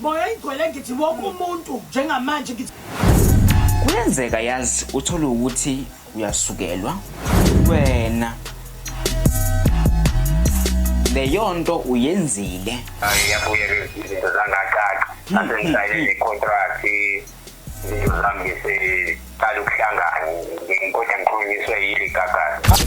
Moya igcwele ngithi wonke umuntu njengamanje ngithi Kuyenzeka yazi uthole ukuthi uyasukelwa wena leyonto uyenzile Ngiyabuya izinto zangacaca nase ngisayine necontract izinto zami ngiseqala ukuhlangana ngikodwa ngikhulunyiswe yile gagasi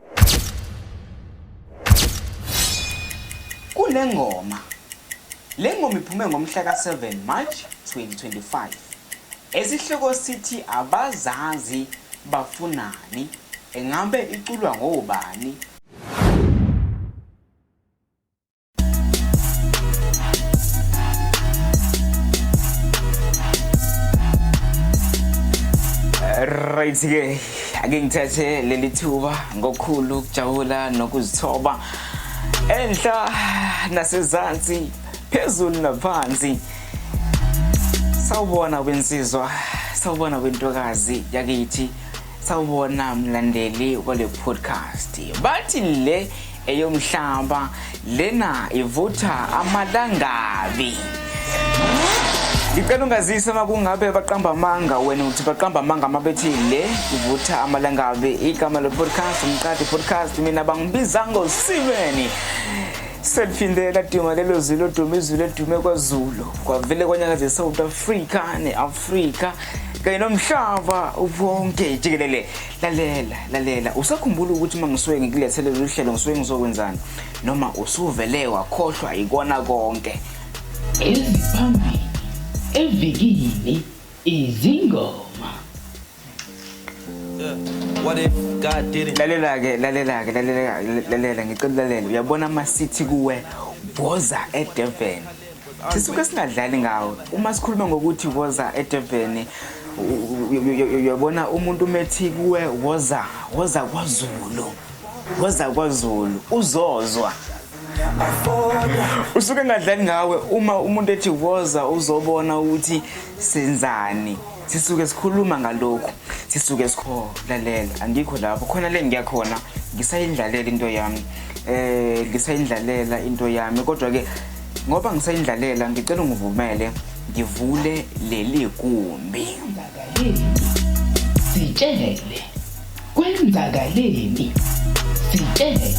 Kule ngoma le ngoma iphume ngomhla ka-7 March 2025 esihloko sithi abazazi bafunani engabe iculwa ngobani right ke ake ngithathe leli thuba ngokukhulu ukujabula nokuzithoba enhla nasezansi phezulu naphansi sawubona wensizwa sawubona wentokazi yakithi sawubona mlandeli wale podcast bathi le eyomhlaba lena ivutha amalangabi ngicela ungazise uma kungabe baqamba amanga wena uthi baqamba amanga uma bethi le ivutha amalangabi igama lo-podcast umqadi podcast mina bangibiza ngosibeni seliphinde laduma lelo zwi loduma izwi ledume kwazulu kwavele kwanyakaza e-south africa ne-afrika kanye nomhlaba wonke jikelele lalela lalela usakhumbula ukuthi uma ngisuke ngikulethele lolu hlelo ngisuke ngizokwenzani noma usuvele wakhohlwa yikona konke eziphambili evikini izingoma lalela-ke lalela-ke lalela-ke lalela ngicela ulalela uyabona ama-city kuwe woza edurban sisuke singadlali ngawo uma sikhuluma ngokuthi woza edurban uyabona umuntu umethi kuwe woza woza kwazulu woza kwazulu uzozwa usuke engadlali ngawe uma umuntu ethi woza uzobona ukuthi senzani sisuke sikhuluma ngalokhu sisuke sikholalela angikho lapho khona le ngiyakhona ngisayindlalela into yami um ngisayindlalela into yami kodwa-ke Ngoba ngisayindlalela ngicela ungivumele ngivule leli gumbi. Sitshele. Kwenzakaleni? Sitshele.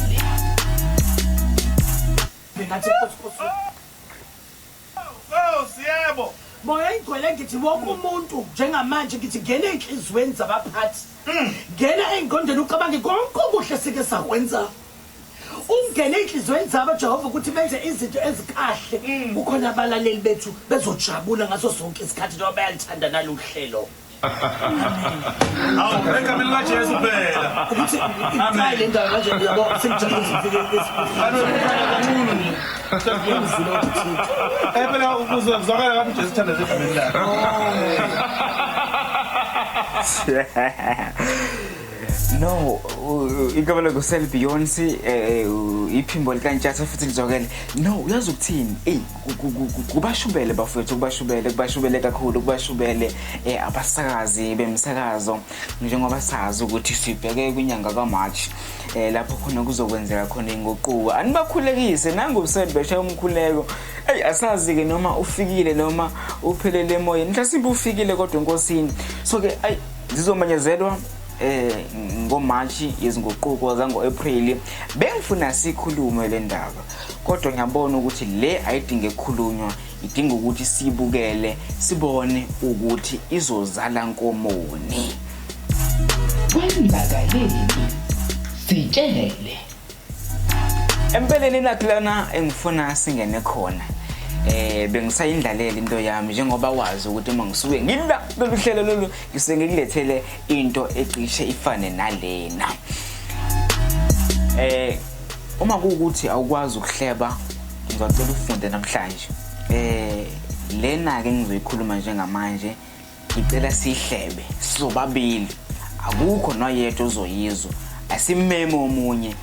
Ngathi kusikusu. Oh, siyebo. Moya igcwele ngithi wonke umuntu njengamanje ngithi ngena enhlizweni zabaphathi. Ngena engqondweni ucabange konke okuhle sike sakwenza. ungene ey'nhliziyweni zabo jehova ukuthi benze izinto ezikahle mm. kukhona abalaleli bethu bezojabula ngaso sonke isikhathi njengoba bayalithanda nalolu hlelo awu egameni likajesu phela ukuthi icayi le ndawo manje yabo sengijabuleephela eh, kuzwakala kathi ujesu uthanda zegameni lakhe oh. no ikabela kusel beyonce eh, eh, iphimbo likantshatha futhi lizwakele no uyazi ukuthini eyi kubashubele bafowethu kubashubele kubashubele kakhulu kubashubele um abasakazi bemsakazo njengoba sazi ukuthi sibheke kwinyanga kamarch um lapho khona kuzokwenzeka khona inguquko anibakhulekise nangobusel besha umkhuleko eyi asazi-ke noma ufikile noma uphelele emoyeni mhlasimbe ufikile kodwa enkosini so-ke ayi zizomenyezelwa eh ngoMarch yezinguquko zango-April bengifuna sikhulume le ndaba kodwa ngiyabona ukuthi le ayidinge kukhulunywa idinga ukuthi sibukele sibone ukuthi izozala nkomoni kwenzakaleni sitshele Empeleni ilaphi lana engifuna singene khona. Eh bengisayindlalela into yami njengoba wazi ukuthi uma ngisuke ngila lolu hlelo lolu ngisuke ngikulethele into ecishe ifane nalena. Eh uma kuwukuthi awukwazi ukuhleba ngizocela ufunde namhlanje. Eh lena ke ngizoyikhuluma njengamanje ngicela sihlebe sizobabili akukho noyedwa ozoyizwa asimeme omunye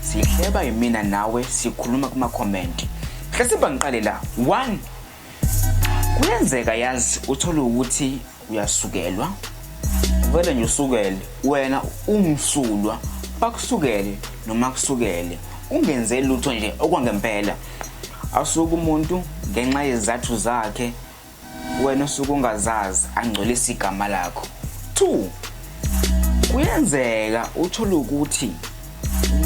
sihleba yimina nawe sikhuluma kumakhomenti hlesiba ngiqale la one kuyenzeka yazi uthole ukuthi uyasukelwa vele nje usukele wena umsulwa bakusukele noma kusukele ungenze lutho nje okwangempela asuke umuntu ngenxa yezizathu zakhe wena usuke ungazazi angcolisa igama lakho two kuyenzeka uthole ukuthi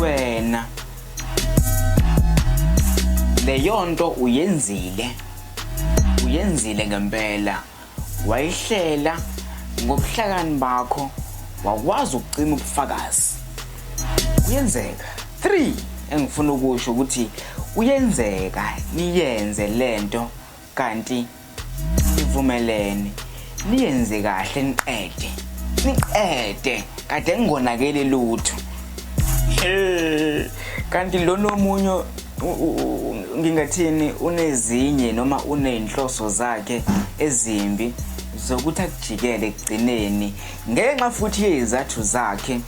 wena leyo nto uyenzile uyenzile ngempela wayihlela ngobuhlakani bakho wakwazi ukucima ubufakazi kuyenzeka 3 engifuna ukusho ukuthi kuyenzeka niyenze lento Kanti sivumelene niyenze kahle niqede. Niqede kade ngingonakele lutho. Kanti lo nomunye ngingathini unezinye noma uneyinhloso zakhe ezimbi zokuthi akujikele ekugcineni ngenxa futhi yezathu zakhe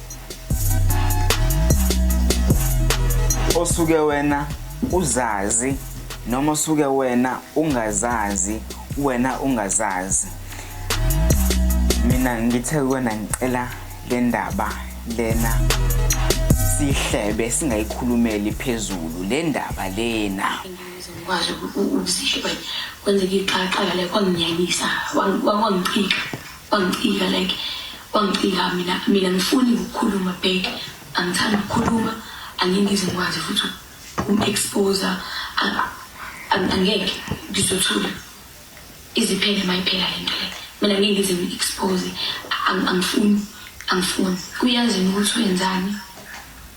osuke wena uzazi noma osuke wena ungazazi wena ungazazi mina ngithe kuwena ngicela le ndaba lena sihlebe singayikhulumeli phezulu le ndaba lena ngizokwazi ukuzihleba kwenzeka iqaqala le kwanginyanyisa kwangichika Wangicika like wangicika mina mina ngifuni ukukhuluma back angithandi ukukhuluma angingize ngikwazi futhi uku-expose angeke ngizothula iziphele uma iphela le nto le mina ngeke ngize ngi-expose angifuni angifuni kuyazi ukuthi wenzani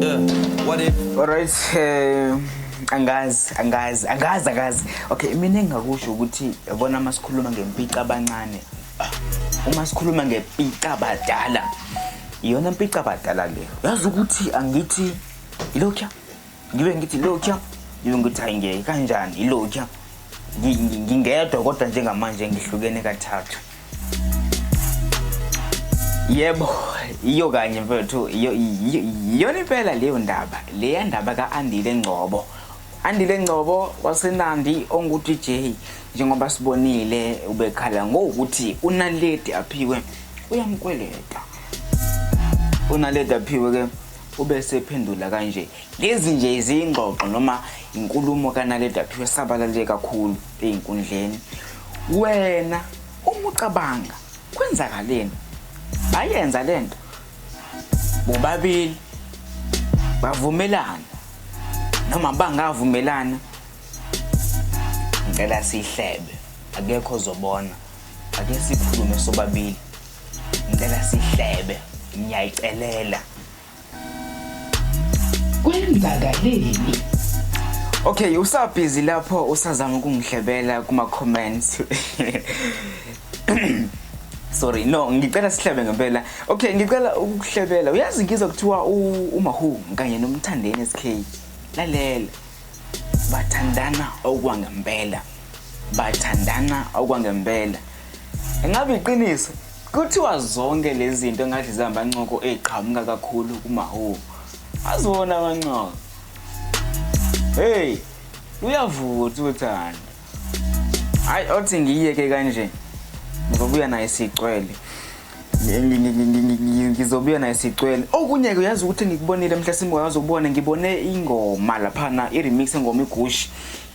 Yeah, what if? Alright, eh angazi angazi angazi angazi. Okay, mina engakusho ukuthi yabona masikhuluma ngempica abancane. Uma sikhuluma ngempica abadala. Iyona mpica abadala leyo. Yazi ukuthi angithi ilokho ngibe ngithi lokya ngibe ngithi hayi ngeke kanjani ilokya ngingedwa kodwa njengamanje ngihlukene kathathu yebo iyo kanye mfethu iyona impela leyo ndaba leya ndaba ka-andile ngcobo andile ngcobo wasenandi ongu-dj njengoba sibonile ubekhala ngokuthi unaledi aphiwe uyamkweleta unaledi aphiwe ke Ube esephendula kanje, lezi nje izingxoxo noma inkulumo kaNaledi Aphiwe esabalale kakhulu ezinkundleni. Wena uma ucabanga kwenzakaleni? Bayenza le nto bobabili bavumelana noma bangavumelana ngicela sihlebe akekho ozobona ake sikhulume sobabili Ngicela sihlebe. Ngiyayicelela. Kwenzakaleni? Okay, usabhizi lapho usazama ukungihlebela kuma comments. sorry no ngicela sihlebe ngempela okay ngicela ukuhlebela uyazi ngizwa kuthiwa umahu kanye nomthandeni SK lalela bathandana okwangempela bathandana okwangempela engabe iqiniso kuthiwa zonke lezi zinto engathi zihambancoko eziqhamuka kakhulu kumahubo aziwona amancoko heyi luyavutha uthando hayi othi ngiyiyeke kanje ngizobuya naye sicwele ngizobuya naye sicwele okunye-ke uyazi ukuthi ngikubonile mhla simoya uzobona ngibone ingoma laphana i-remix engoma igushi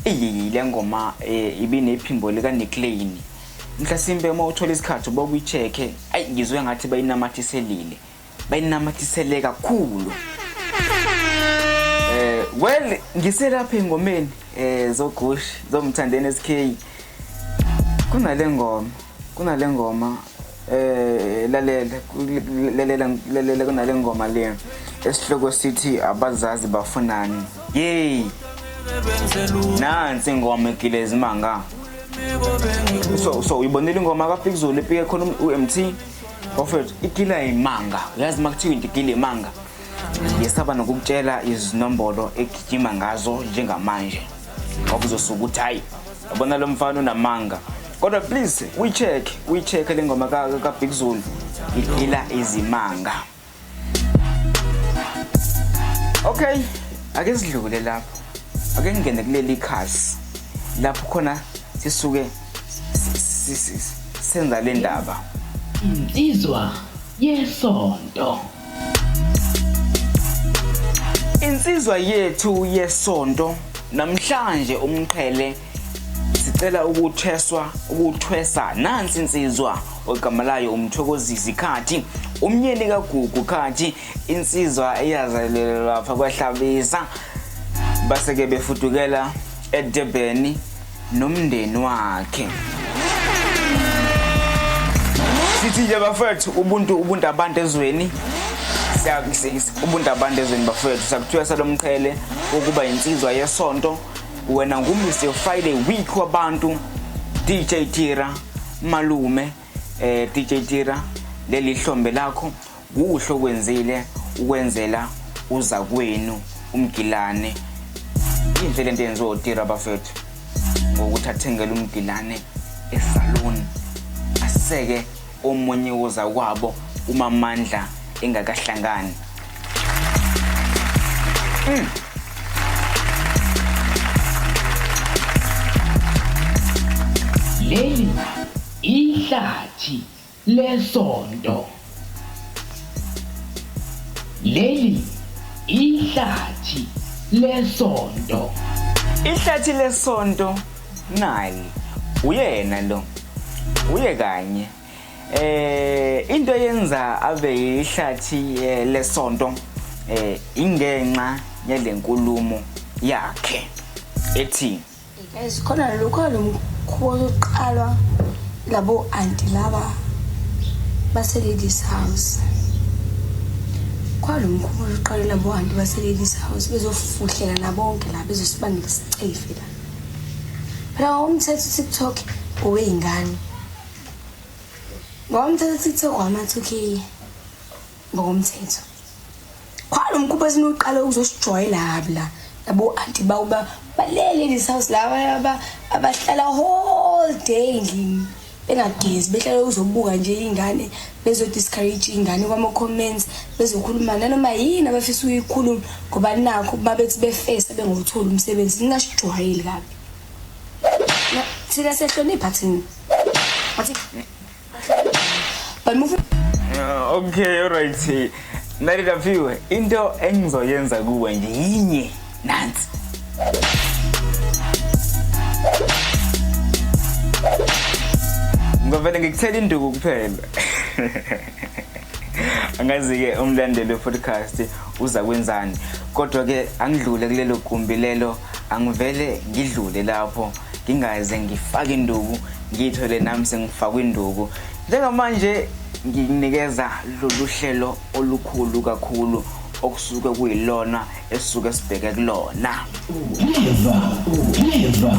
iyiyi le ngoma um ibinephimbo likaniclane mhlasimpe uma uthola isikhathi uba kuyi-check-e ayi ngizwe ngathi bayinamathiselile bayinamathisele kakhulu eh well ngiselapha engomeni eh zogqushi zomthandeni SK kunale ngoma kunale ngoma eh lalela lalela lalela kunale ngoma le esihloko sithi abazazi bafunani yey nansi ingoma egilezimanga so so uyibonile ingoma kaPikzulu ipike khona uMT Prophet, ikila imanga. Uyazi makuthiwa into ikila imanga. Yesaba nokukutshela izinombolo egijima ngazo njengamanje. Ngoba uzosuka ukuthi hayi yabona lo mfana unamanga. Kodwa please uyicheck, uyicheck le ngoma ka ka Big Zulu. Igila izimanga. Okay, ake sidlule lapho. Ake ngingene kuleli khasi lapho khona sisuke senza le ndaba. Insizwa yesonto. Insizwa yethu yesonto namhlanje umqhele sicela ukutheswa ukuthwesa nansi insizwa ogama layo umthokozisi khathi umnyeni kagugu khathi insizwa eyazalelwa lapha kwahlabisa baseke befudukela edebheni nomndeni wakhe sithi nje bafethu ubuntu ubuntu abantu ezweni ubuntu abantu ezweni bafethu sakuthiwa salomqhele ukuba insizwa yesonto wena ngumzi friday week wabantu dj tira malume eh dj tira leli hlombe lakho kuhle okwenzile ukwenzela uza kwenu umgilane inhle lento yenziwa utira bafethu ngokuthi athengele umgilane esaluni aseke omunye wozakwabo uMamandla engakahlangani. Mm. Leli ihlathi lesonto. Leli ihlathi lesonto. Ihlathi lesonto Nali. Uyena lo. Uye kanye. Eh into yenza abe yihlathi eh, lesonto eh ingenxa yalenkulumo yakhe ethi Guys, khona lokho lo mkhuba ozoqalwa labo anti laba base ladies house. Khona lo mkhuba ozoqalwa labo anti base ladies house bezofuhleka nabonke la bezosibangela isicefe la. phela wawumthetha utiktok owey'ngane wawumthetha utiktok wamathukiye ngokomthetho khona umkhupha esinuqala ukuzosijwayela kabi la yabo anti bawo balele in this house laba abahlala whole day endlini bengagezi behlale uzobuka nje ingane bezo discourage ingane kwama comments bezokhuluma nanoma yini abafisa uyikhuluma ngoba nakho babethi befesa bengothola umsebenzi ningasijwayeli kabi thina sehlonipha thina athi bamuvu ah, okay alright nalikafiwe into engizoyenza kuwe nje yinye nansi ngavele ngikuthela induku kuphela angazi-ke umlandeli we-podcast uza kwenzani kodwa-ke angidlule kulelo gumbi lelo angivele ngidlule lapho ngingaze ngifake induku ngiyithole nami sengifakwe induku njengamanje nginikeza lolu hlelo olukhulu kakhulu okusuke kuyilona esisuke sibheke kulona Clever, clever,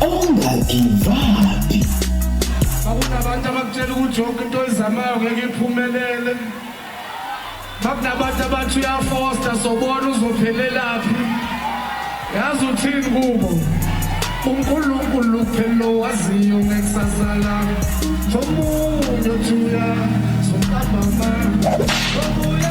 ongagivaphi. Bakunabantu abakutshela ukuthi yonke into oyizamayo ngeke iphumelele. Bakunabantu abathi uyafosta sobona uzophelelaphi. Yazi uthini kubo? UNkulunkulu kuphela lo waziyo ngekusasa lami. Omunye uthi uya, sombamba mama. Omunye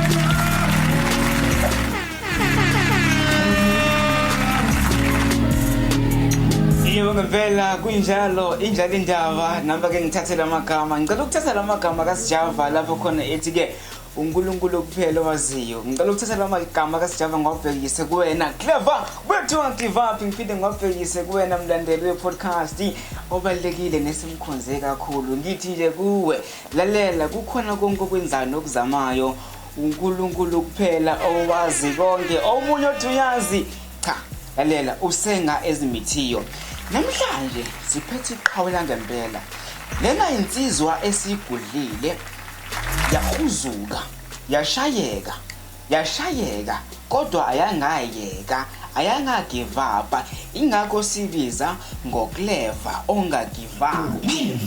Yebo ngempela kunjalo injalo indaba namba ke ngithathe lamagama ngicela ukuthatha lamagama kaSjava lapho khona ethi ke uNkulunkulu kuphela owaziyo ngicela ukuthatha lamagama kaSjava ngwabhekise kuwena clever wethu angigive up ngiphinde ngwabhekise kuwena mlandeli wepodcast obalekile nesimkhonze kakhulu ngithi nje kuwe lalela kukhona konke okwenzayo nokuzamayo uNkulunkulu kuphela owazi konke omunye othi uyazi cha lalela usenga ezimithiyo namhlanje siphethe iqhawe langempela lena insizwa esigudlile yahuzuka yashayeka yashayeka kodwa ayangayeka ayangagivapa ingakho sibiza ngokuleva ongagivapi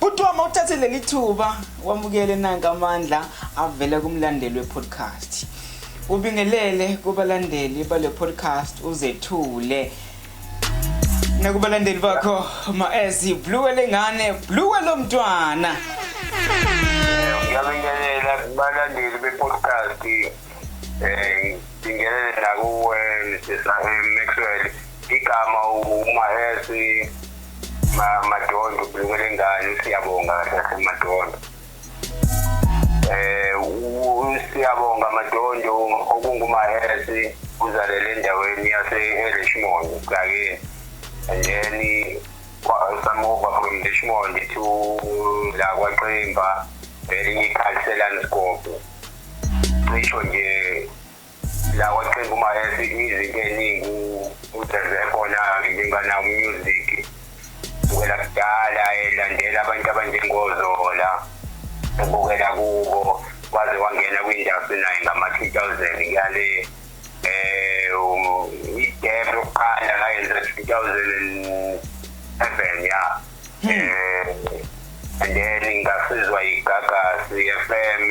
Bhuti wami uthathe leli thuba wamukele nanka amandla avela kumlandeli we-podcast. Ubingelele kubalandeli bale podcast uzethule. Nakubalandeli bakho maezi blue lengane blue lomntwana. Ngiyabingelela kubalandeli be-podcast eh ngibingelele nakuwe Mrs. Maxwell igama uMaezi madondo ubulunga lengane siyabonga sasemadondo eh siyabonga madondo okungumahesi uzalele endaweni yase-richmond kake and then samova from richmond to la kwaqemba elinye ikhalselani sikopo cisho nje la kwaqinga uma ethi izinto eziningi udeze khona ngingana music ubukela kudala elandela abantu abanjengozola ubukela kubo waze wangena kwindustry naye ngama 2000 ngale eh um, idebe lokuqala ngayenza 2007 ya then ngasizwa igagasi FM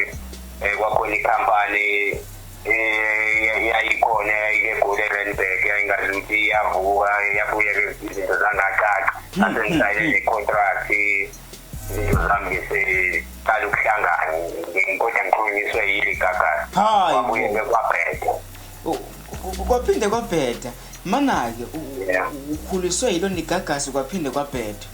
eh, kwakhona ikhampani eh, yayikhona yayike gole Randburg yayingazi ukuthi iyavuka yabuye ke izinto zangacaca hmm. ase ngisayine hmm. ne-contract izinto zami seqala ukuhlangana ngikodwa ngikhulunyiswe yile gagasi kwabuye ke kwabheda oh, kwaphinde kwabheda Mana-ke ukhuliswe yilo nigagasi kwaphinde kwabheda.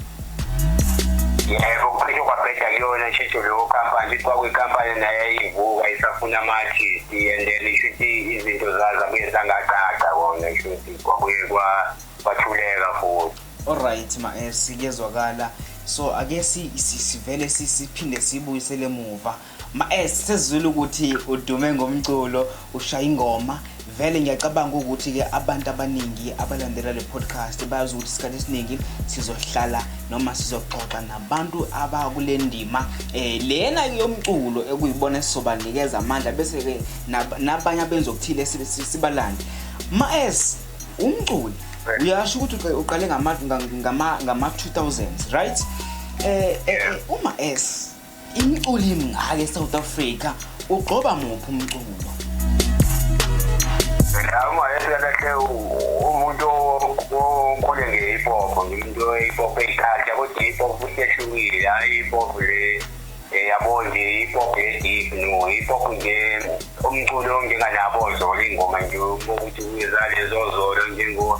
Yebo kuphinde kwabheda kuyona shesho leyo company kuthi kwakuyikampani naye ivuka isafuna ama-artist and then ishuthi izinto zazo abuye zangaqaqa kona shuthi kwabuye kwathuleka futhi olright ma-s kuyezwakala so ake sivele siphinde sibuyisele muva Maes sesizwile ukuthi udume ngomculo ushaya ingoma vele ngiyacabanga ukuthi ke abantu abaningi abalandela le podcast bayazi ukuthi isikhathi esiningi sizohlala noma sizoxoxa nabantu abakule ndima eh lena yomculo ekuyibona esizobanikeza amandla bese ke nabanye abenza okuthile sibalande maes umculi uyasho ukuthi uqale ngama ngama ngama 2000s right eh, eh, eh uma es Imculi mngaka eSouth Africa ugqoba muphi umculo? Ngiyama eselekhe umuntu okhule nge-hip hop ngimuntu we-hip hop eyiculture kodwa i-hip hop futhi ehlukile hhayi i-hip hop le eh, yabo nje i-hip hop ye-deep no i-hip hop nje umculo onjenganabo zolo iy'ngoma nje ukuthi kuyezalezo zolo njengo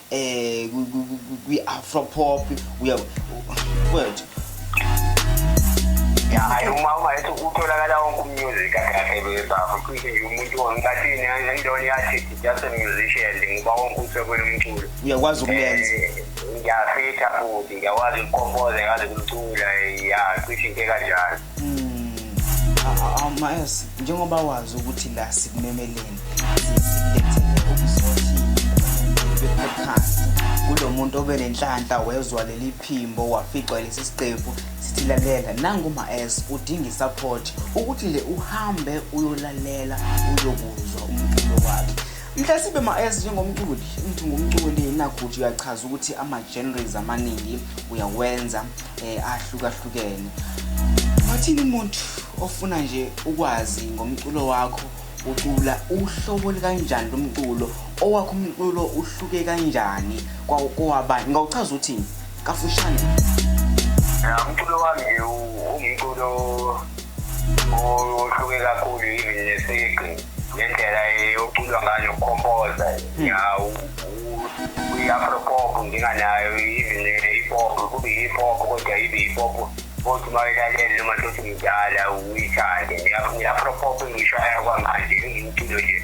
eh kwi afro pop uya wethu hayi uma uma ethi utholakala wonke umusic akhe bebafu cishe nje umuntu onkathini endoni yathi just a musician ngoba wonke usekwele umculo uyakwazi ukuyenza eh, ngiyafitha futhi ngiyakwazi ukukompoza ngikwazi ukucula ya cishe into kanjalo Awumazi hmm, njengoba wazi ukuthi la sikumemeleni sikulethele ukuzothi be-podcast kulo muntu obe nenhlanhla wezwa leli phimbo waficwa lesi siqephu sithi lalela nanguma-s udinga isupport ukuthi nje uhambe uyolalela uyokuzwa umculo wakhe Mhlasibe ma-as njengomculi ngithi ngumculi naguthi uyachaza ukuthi ama-genres amaningi uyawenza um eh, ahlukahlukene wathini umuntu ofuna nje ukwazi ngomculo wakho ucula uhlobo likanjani lomculo owakho umculo uhluke kanjani kwawabanye ngawuchaza uthini kafushane ya umculo wami ungumculo ohluke kakhulu even nesigqi ngendlela yoculwa ngayo ukhompoza hmm. ya i-afropop nginganayo even i-pop kube i-pop kodwa ibe i-pop kodwa uma ilalele noma tothi ngidala uyithande ngiyaphrophope ngisho ayakwamanje ngiyimculo nje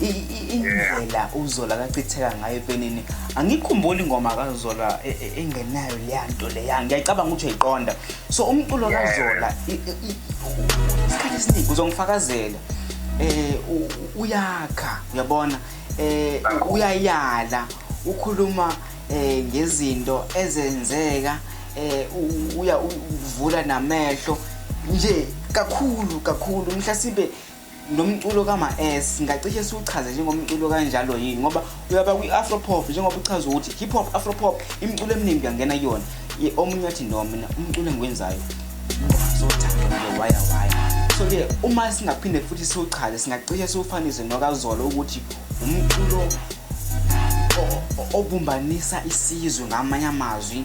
indlela uzola akachitheka ngayo epenini angikhumbuli ingoma kazola e, e, engenayo leya nto leya ngiyayicabanga ukuthi uyayiqonda so umculo kazola isikhathi esiningi uzongifakazela um uyakha uyabona um uyayala ukhuluma um ngezinto ezenzeka um uyavula namehlo nje kakhulu kakhulu mhlawumbe lo mculo kama-s ngacishe siwuchaze njengomculo kanjalo yini ngoba uyaba kwi-afropop njengoba uchaza ukuthi hip hop afropop imiculo eminingi kuyangena kuyona omunye athi no mina umculo engiwenzayo so-ke uma singaphinde futhi siwuchaze singacishe siwufanise nokazolo ukuthi umculo obumbanisa isizwe ngamanye amazwi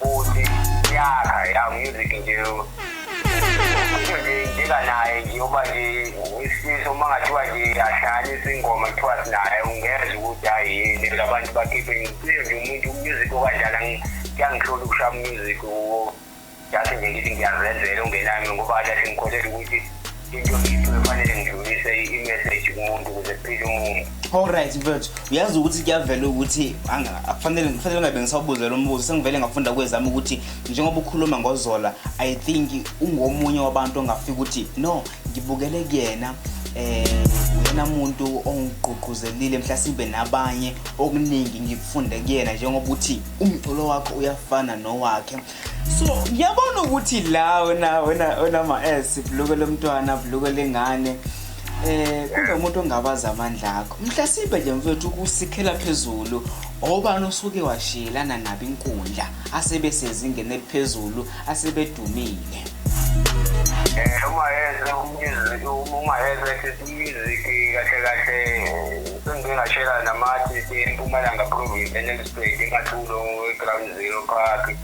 Bhuti yakha ya music nje. Nje njeka naye nje uba nje isifiso uma ngathiwa nje ahlanganisa ingoma kuthiwa sinaye ungezwa ukuthi hayi yini labantu bakhiphe ngiphile nje umuntu umusic okanjani angi- kuyangihlula ukushaya umusic uwo. Just nje ngithi ngiyazenzela ungenami ngoba kade sengikholelwa ukuthi into ngithi kufanele ngidlulise i-message kumuntu ukuze kuphile umuntu Alright mfethu uyazi ukuthi kuyavela ukuthi anga- akufanele kufanele ngabe ngisawubuze lo mbuzo sengivele ngafunda kwezami ukuthi njengoba ukhuluma ngozola i think ungomunye wabantu ongafika ukuthi no ngibukele kuyena eh uyena muntu ongigqugquzelile mhlasimbe nabanye okuningi ngikufunde kuyena njengoba uthi umculo wakho uyafana nowakhe so ngiyabona ukuthi la wena wena wena ma s buluke lomntwana buluke lengane eh kunomuntu ongabaza amandla akho mhlasimbe nje mfethu kusikhela phezulu obani osuke washiyelana nabo inkundla asebesezingeni eliphezulu asebedumile eh uma yeze umyizwe uma yeze Iziki kahle kahle sengike ngashela namathi eMpumalanga Province eNelspruit eMathulo eGround Zero Park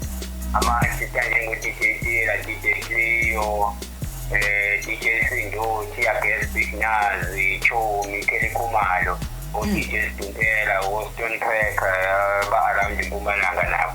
ama-artist anjengo-DJ Tira, DJ Cleo eh DJ Sindothi, Abel Big Nazi, Chomi, Kelly Khumalo, o-DJ Sdumpela, o-Stone Cracker, ba-around eMpumalanga nabo.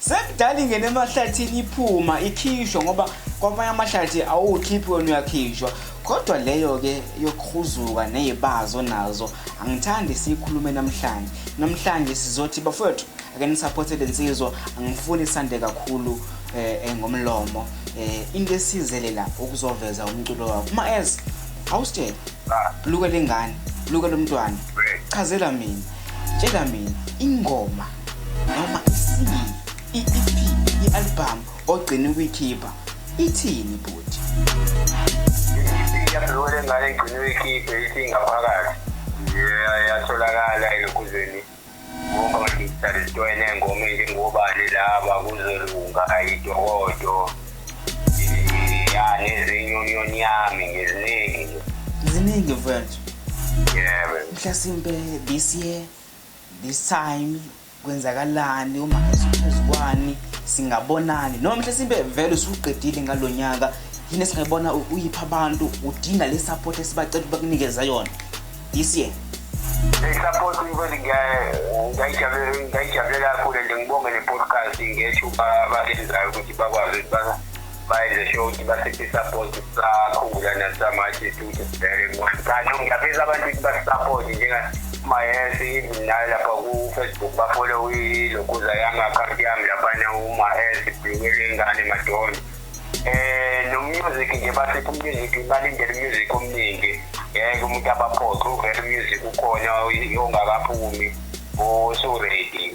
sekudala ingene emahlathini iphuma ikhishwa ngoba kwamanye amahlathi awukhiphi wena uyakhishwa kodwa leyo-ke yokuhuzuka neyibazo nazo angithandi siyikhulume namhlanje namhlanje sizothi bafowethu ake nisaphote le nsizwa angifuni sande kakhulu eh, eh ngomlomo um into esizele la ukuzoveza umculo wakho uma ez awusitshela ah. luke lengane luke lomntwana chazela mina tshela mina ingoma noma isini i-ep i-albhamu ogcina ukuyikhipha ithini buti iyabhekole ngane igcine uyikhiphe ithi ingaphakathi yatholakala elokhuzeni ngoba ngadijitali zitwene ngoma njengobani laba kuzolunga ayidokodo ya nezinye union yami ngeziningi ziningi mfethu yebo mhlasimpe this year This time kwenzakalani uma ngiziphezukwani singabonani noma mhle simbe vele usuqedile ngalonyaka yini singayibona uyipha abantu udinga le support esibacela ukuba kunikeza yona this year support ukuthi ngiyayijabule kakhulu and ngibonge ne-podcast ngethuba balenzayo ukuthi bakwazi ukuthi bayenzesho ukuthi basisisapoti sakhula nasamanje futhi sibheke kanti ngiyafisa abantu ukuthi basisapoti njengamayesi even nayo lapha ku-facebook bafole ilokuza yami akhawunti yami laphana umayesi bhekele ingane madonda um eh, nomusic nje basipha umusic balindele umusic omningi ngeke umuntu abaphoxe uvele umusic ukhona ongakaphumi osuredi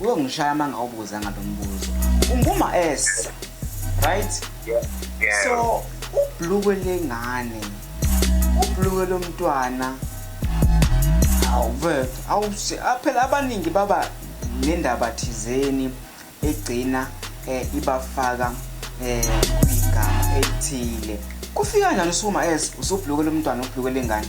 Uyongishaya uma ngawubuza ngalo mbuzo. Unguma S. Right? Yeah. yeah. So ubhlukwe lengane. Ubhlukwe lomntwana. Awuve, awuse phela abaningi baba nendaba thizeni egcina eh ibafaka eh igama elithile. Kufika njani usuma S usubhlukwe lomntwana ubhlukwe lengane?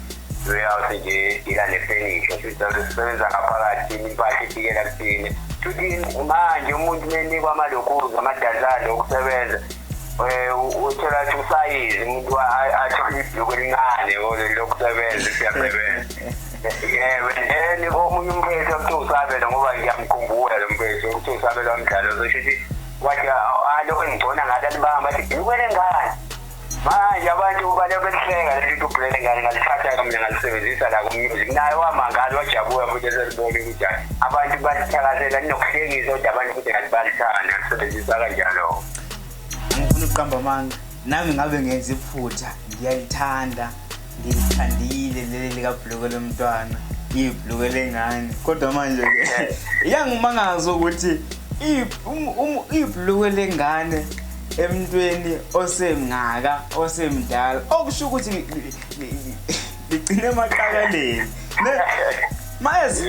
Reyout nje ila nefenisha sisizalo sisebenza ngaphakathi impahla ifikela kuthina futhi manje umuntu menikwa amalokuza amadazane okusebenza um uthola ukuthi usayizi umuntu athole ibhuku elincane lokusebenza isiyasebenza yebo then omunye umphetho kuthiwa usabela ngoba ngiyamkhumbula lo mphetho kuthiwa usabela umdlalo zosho ukuthi wathi alo engigcona ngathi alibamba athi bhukele ngani manje abantu bale bekuhlenga leli nto ubhulele ngane ngalithatha mina ngalisebenzisa la kumusic naye wamangala wajabuka futhi eselibona ukuthi abantu balithakazela linokuhlekisa kodwa abantu futhi ngathi balithanda lisebenzisa kanjalo ngifuna ukuqamba amanga nami ngabe ngenza iphutha ngiyayithanda ngithandile leli likabhuluko lomntwana ibhuluko lengane kodwa manje ke iyangimangaza ukuthi um, um, ibhuluko lengane emntweni osemngaka osemdala okusho ukuthi ligcine emaqakaleni mayezi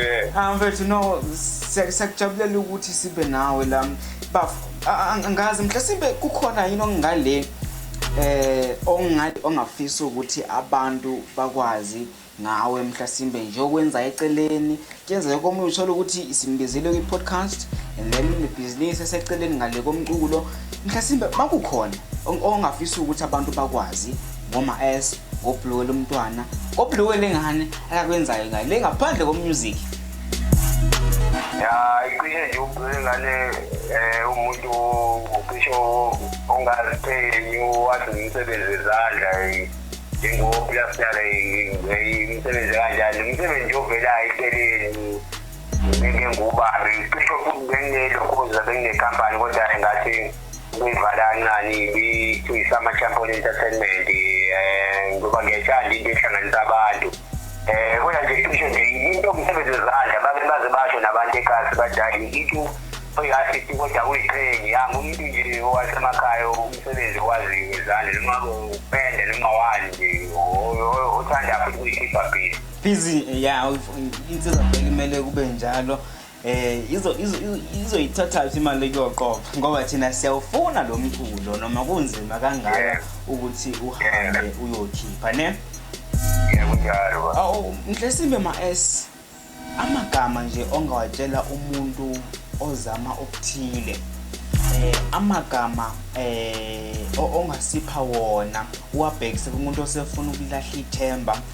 mfethu no siyakujabulela ukuthi sibe nawe la bafo angazi mhlasimbe kukhona yini okungaleni eh ongathi ongafisa ukuthi abantu bakwazi ngawe mhlasimbe nje okwenza eceleni kuyenzeka komunye uthole ukuthi isimbizile kwi-podcast and then nebhizinisi eseceleni ngale komculo mhlasimbe makukhona ongafisa ukuthi abantu bakwazi ngoma s ngobhuluwe lomntwana ngobhuluwe lengane akakwenzayo ngayo le ngaphandle komusic ya iqine nje ubheke ngale eh umuntu ucisho ongaziqhenyi wathi umsebenzi wezandla njengopilasitala imisebenzi kanjani imisebenzi yovelayo eceleni ngeke ngubani cisho futhi benginelokhoza benginekampani kodwa ngathi Kumvala kancane ibithuyisama Champion Entertainment eh ngoba ngiyayithanda into ehlanganisa abantu. Eh kodwa nje kusho nje into umsebenzi wezandla babe baze basho nabantu ekhaya badali into oyi-assist kodwa uyiqhenye yami umuntu nje owasemakhaya umsebenzi owaziyo wezandla noma upende noma wani nje othanda futhi kuyikhipha phile busy ya insizwa kumele kube njalo Eh izo izoyithatha phi imali yoqoqa ngoba thina siyawufuna lo mculo noma kunzima kangaka ukuthi uhambe uyokhipha ne Ngiyakunjalo. Awu mhlesimbe ma S amagama nje ongawatshela umuntu ozama okuthile eh amagama eh ongasipha wona uwabhekise kumuntu osefuna ukulahla ithemba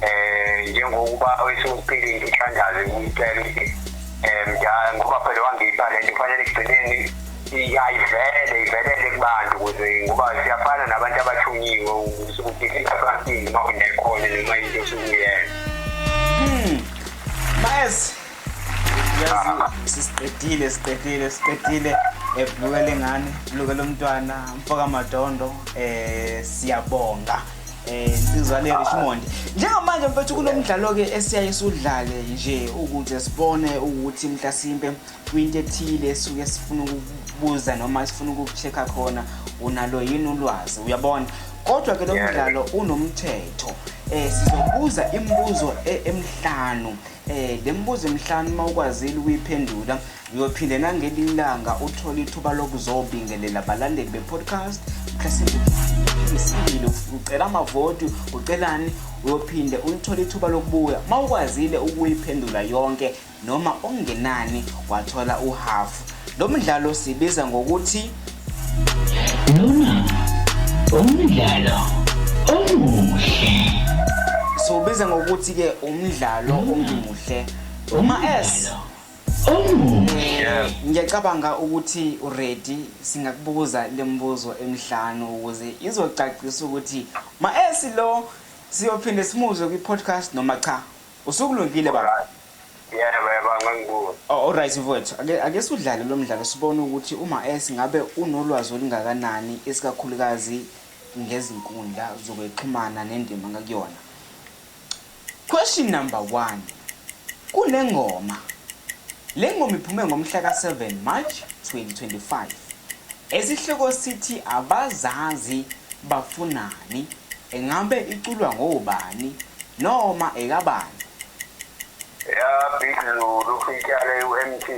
eh njengokuba awesipilini ithandaze ngicela ukuthi eh mdala ngoba phela wangipha le nto kufanele ekugcineni iyayivele ivelele kubantu ukuze ngoba siyafana nabantu abathunyiwe ukuthi ingasasingi uma unekhona noma into osukuyenza hmm. bayes sisiqedile siqedile siqedile ebhuluke lengane bhuluke lomntwana mfoka madondo um siyabonga Eh, insizwane Richmond njengamanje mfethu kunomdlalo ke esiyaye sudlale nje ukuze sibone ukuthi mhlasimpe kwinto ethile suke sifuna ukubuza noma sifuna ukuchecker khona unalo yini ulwazi uyabona kodwa ke lo mdlalo unomthetho eh sizobuza imibuzo e-, emhlanu yeah. Eh, le mibuzo emihlanu uma ukwazile ukuyiphendula uyophinde nangelinye ilanga uthole ithuba lokuzobingelela abalandeli be-podcast mhlasimbeisile ucela amavoti ucelani uyophinde ulithole ithuba lokubuya uma ukwazile ukuyiphendula yonke noma okungenani wathola uhafu Lo mdlalo sibiza ngokuthi Lona umdlalo omuhle. Siwubiza ngokuthi ke umdlalo omuhle. Uma S eh, ngiyacabanga ukuthi uready singakubuza lembuzo emhlanu ukuze izocacisa ukuthi ma S lo siyophinde simuzwe kwi podcast noma cha usukulungile baba Yebo, yebo, angangiboni. Oh, alright mfowethu ake ake sudlale lo mdlalo sibone ukuthi uma es ngabe unolwazi olungakanani esikakhulukazi ngezinkundla zokwexhumana nendima ngakuyona question number one kunengoma le ngoma iphume ngomhla ka-7 march 2025 esihloko sithi abazazi bafunani Engabe iculwa ngobani noma ekabani? Ya Big Zulu ityale uMT.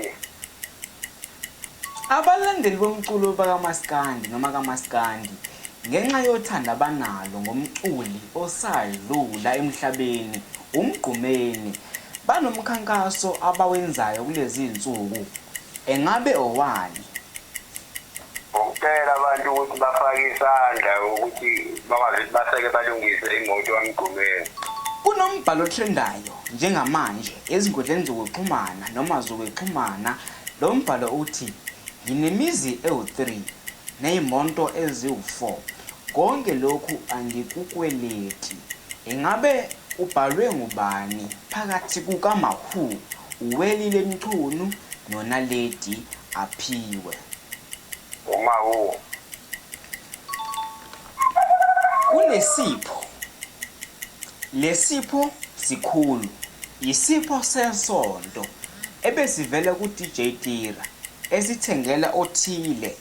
Abalandeli bomculo bakamaskandi noma kamaskandi ngenxa yothando abanalo ngomculi osadlula emhlabeni uMgqumeni banomkhankaso abawenzayo kulezi zinsuku. Engabe owani? ngokucela abantu ukuthi bafake isandla ukuthi bakwazi ukuthi baseke balungise imoto kaMgqumeni. Kunombhalo otrendayo njengamanje ezinkundleni zokuxhumana noma zokuxhumana lo mbhalo uthi nginemizi ewu-3 neyimonto eziwu-4 konke lokhu angikukweleti. Ingabe ubhalwe ngubani phakathi kukaMawhoo, uWelile Mchunu noNaledi aphiwe. Uma u. Kunesipho. Lesipho sikhulu. Yisipho sensonto ebesivela kuDJ Tira esithengela othile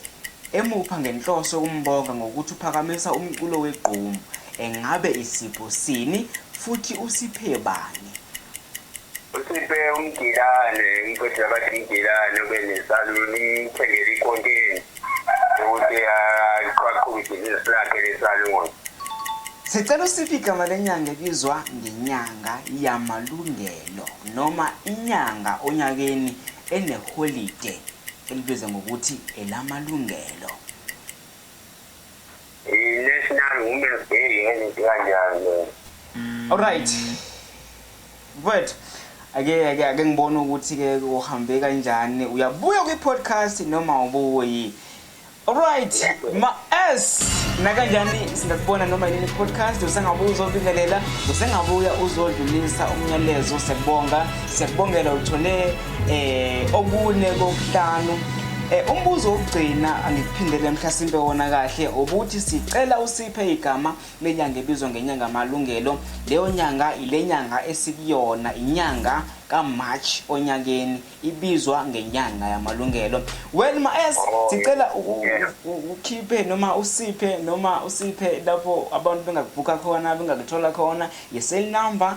emupha ngenhloso yokumbonga ngokuthi uphakamisa umculo wegqomu engabe isipho sini futhi usiphe bani. Usiphe umgilane umqeqeshi abathi umgilane ube nesaluni imthengele ikhonteni ukuthi aqhaqhuke ibhizinisi lakhe lesaluni Sicela usiphe igama lenyanga ebizwa ngenyanga yamalungelo noma inyanga onyakeni eneholide elibizwa ngokuthi elamalungelo. National Women's Day ngezinto kanjalo. Alright. But ake ake ake ngibone ukuthi ke uhambe kanjani uyabuya kwi podcast noma ubuyi Alright, ma S nakanjani singakubona noma yini podcast usengabuya uzobingelela usengabuya uzodlulisa umyalezo siyakubonga siyakubongela uthole eh okune kokuhlanu eh umbuzo wokugcina angikuphindele mhlasimpe wona kahle ukuthi sicela usiphe igama lenyanga ebizwa ngenyanga malungelo leyo nyanga ilenyanga esikuyona inyanga kaMarch onyakeni ibizwa ngenyanga yamalungelo well ma S sicela ukhiphe noma usiphe noma usiphe lapho abantu bengakubhuka khona bengakuthola khona ye cell number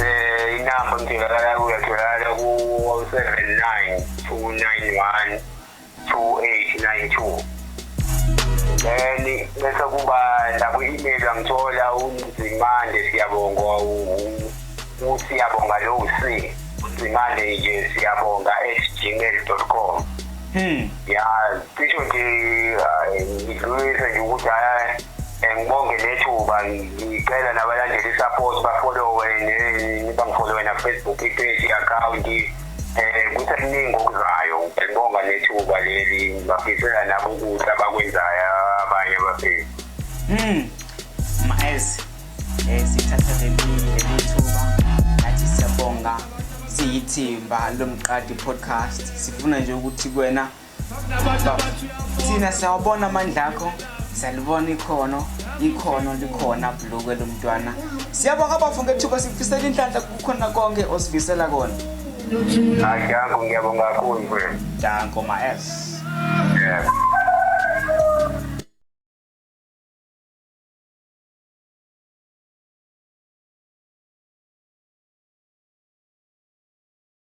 Eh inamba ngitholakala kuyo tholakala ku 079 291 2892. Then bese kuba lapho email angithola unzimande siyabonga usiyabonga lo usi unzimande nje siyabonga @gmail.com. Hmm. Ya cisho nje ngidlulise nje ukuthi hayi Eh, ngibonge nethuba ngicela nabalandeli i-support bafolowe bangifolowe nafacebook i-page i-akhawunti um eh, kusekuningi okuzayo ngibonga nethuba leli ngibafisela nabo ukudla bakwenzayo abanye abafisi um hmm. maez um eh, sithatha lelithuba nathi siyabonga siyithimba lomqadi podcast sifuna nje ukuthi kwena thina siyawabona amandla akho siyalibona ikhono ikhono likhona bhulukwe lo mntwana siyabonga bafo ngethuba sikufisela inhlanhla kukhona konke osifisela kona adanko ngiyabonga kakhulu mfethu danko ma s yeah.